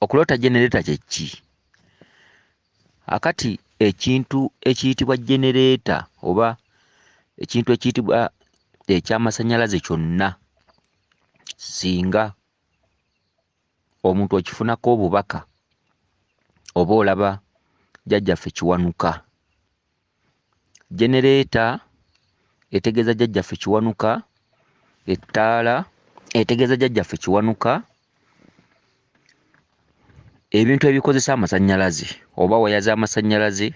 Okuloota genereeta kye ki? Akati ekintu ekiyitibwa genereeta oba ekintu ekiyitibwa eky'amasannyalaze kyonna singa omuntu okifunako obubaka oba olaba jjajjaffe Kiwanuka Genereeta etegeeza Jjajjaffe Kiwanuka, ettaala etegeeza Jjajjaffe Kiwanuka, ebintu ebikozesa amasannyalaze oba waya z'amasannyalaze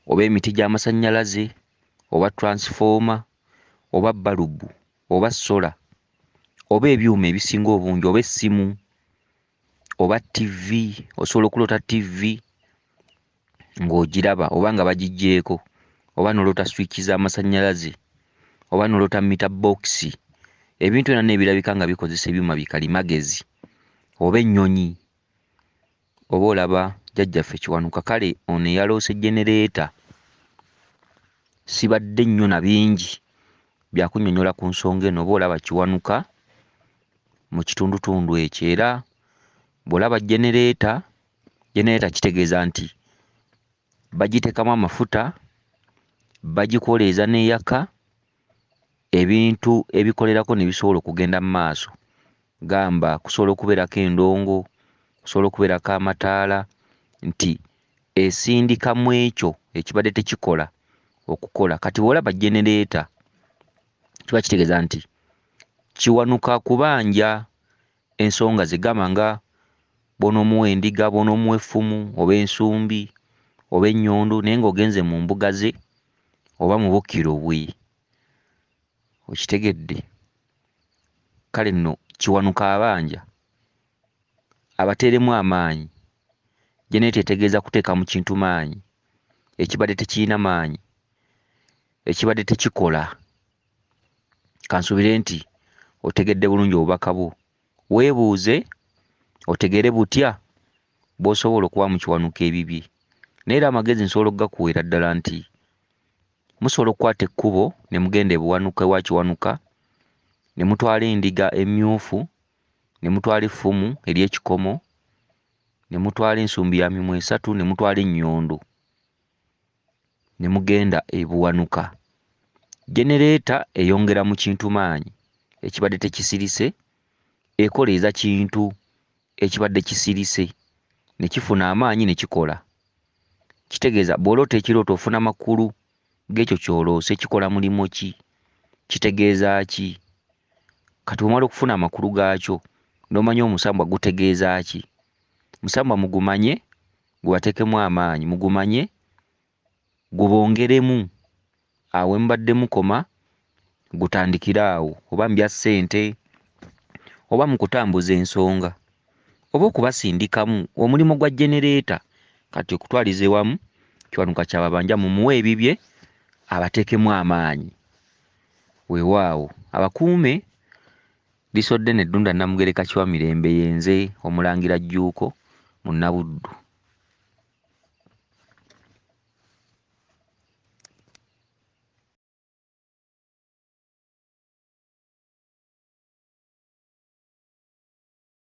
oba emiti gy'amasannyalaze oba tulansifooma oba bbalubu oba ssola oba ebyuma ebisinga obungi oba essimu. oba TV, osobola okuloota TV ng'ogiraba oba nga bagiggyeeko, oba n'oloota swiki z'amasannyalaze, oba n'oloota mita bookisi, ebintu byonna n'ebirabika nga bikozesa ebyuma bikalimagezi, oba ennyonyi, oba olaba Jjajjaffe Kiwanuka. Kale ono eyaloose jjenereeta sibadde nnyo na bingi bya kunnyonnyola ku nsonga eno, oba olaba Kiwanuka. mu kitundutundu ekyo era bw'olaba jjenereeta, jjenereeta kitegeeza nti bagiteekamu amafuta, bagikoleeza n'eyaka, ebintu ebikolerako ne bisobola okugenda mu maaso gamba kusobola okubeerako endongo, kusobola okubeerako amataala nti esindika mu ekyo ekibadde tekikola okukola. Kati bw'olaba jjenereeta, kiba kitegeeza nti kiwanuka kubanja ensonga ze gamba nga bw'onoomuwa endiga bw'onoomuwa effumu oba ensumbi oba ennyondo naye ng'ogenze mu mbuga ze oba mu bukkiro bwe okitegedde kale nno kiwanuka abanja abateeremu amaanyi jeneeta etegeeza kuteeka mu kintu maanyi ekibadde tekirina maanyi ekibadde tekikola. Kansuubire nti otegedde bulungi obubaka bwo. Weebuuze otegeere butya bw'osobola okuba mu kiwanuka ebibye. Naye era amagezi nsobola okugakuweera ddala nti musobola okukwata ekkubo ne mugenda ebuwanuka ewa kiwanuka ne mutwala endiga emmyufu ne mutwala effumu ery'ekikomo ne mutwala ensumbi ya mimwa esatu ne mutwala ennyondo ne mugenda e Buwanuka. Geneleeta eyongera mu Kintu maanyi ekibadde tekisirise ekoleeza Kintu ekibadde kisirise ne kifuna amaanyi ne kikola. Kitegeeza bw'oloota ekirooto ofuna makulu g'ekyo ky'oloose, kikola mulimu ki, kitegeeza ki? Kati bw'omala okufuna amakulu gaakyo n'omanya omusambwa gutegeeza ki, omusambwa mugumanye. gubatekemu amaanyi mugumanye gubongeremu awo wemubadde mukoma gutandikire awo oba mubya ssente oba mukutambuza ensonga oba okubasindikamu omulimu gwa generator kati okutwaliza ewamu kiwanuka kyababanja mumuwe ebibye abatekemu amaanyi wewaawo abakuume Bisodde ne Ddunda Namugereka Kiwamirembe ye nze Omulangira Jjuuko Munnabuddu.